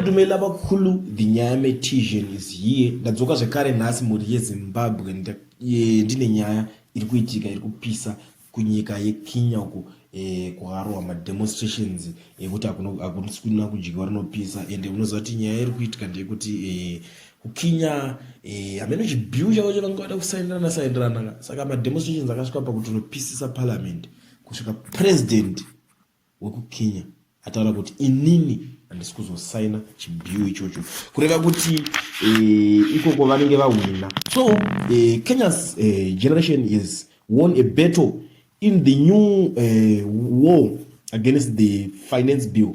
dumela vakhulu the nyaya metision is here ndadzoka zvekare nhasi mhuri yezimbabwe ndine nyaya iri kuitika iri kupisa kunyika yekenya uko eh, kuharwa mademonstrations ekuti hakusikuna kudyiwa rinopisa ende unoziva kuti nyaya iri kuitika ndeyekuti eh, kukinya eh, hameno chibiu chavo chavanga vada kusaindirana saindirana saka mademonstrations akasvika pakuti unopisisa parliament kusvika president wekuKenya ataura kuti inini handisi kuzosaina chibiu ichocho kureva kuti eh, ikoko vanenge vahwina so eh, kenya's eh, generation is won a battle in the new uh, war against the finance bill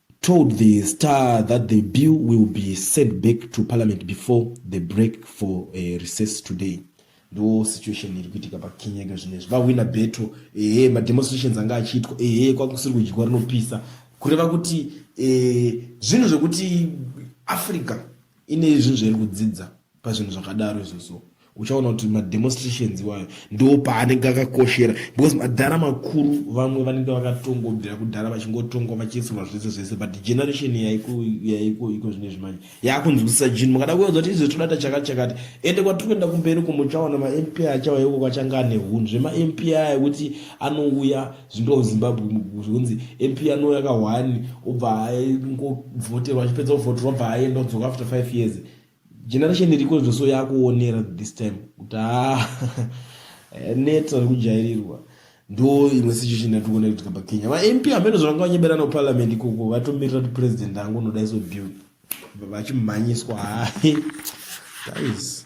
told the star that the bill will be sent back to parliament before the break for a eh, recess today ndo situation iri kuitika pakenya ika zvino izvi vahwina beto ehe mademonstrations anga achiitwa ehe kwakusiri kudyiwa rinopisa kureva kuti eh, zvinhu zvekuti africa ine zvinhu zvairi kudzidza pazvinhu zvakadaro izvozvo uchaona kuti mademonstrations iwayo ndo paanenge akakoshera because madhara makuru vamwe vanenge vakatongobvira kudhara vachingotongwa vachiisirwa zvese zvese but generation yaiko yaiko iko zvine zvimanje yakunzwisisa jini mukada kuedza kuti izvo toda tachakati chakati ende kwatiri kuenda kumberi ko muchaona mamp achawa yoko kwachanga ane hunhu zvemamp aya kuti anouya zvindoa zimbabwe zvinzi mp anouya kahwani obva aingovhoterwa achipedza kuvhoterwa obva aenda odzoka after five years generation iriko zvoso yakuonera this time kuti ah, neta rekujairirwa ndo imwe situation yatikuona kuitika pakenya vamp hameno zvavanga vanyeberana kuparliament ikoko vatomirira kuti president angu unoda iso bill vachimhanyiswa hai guys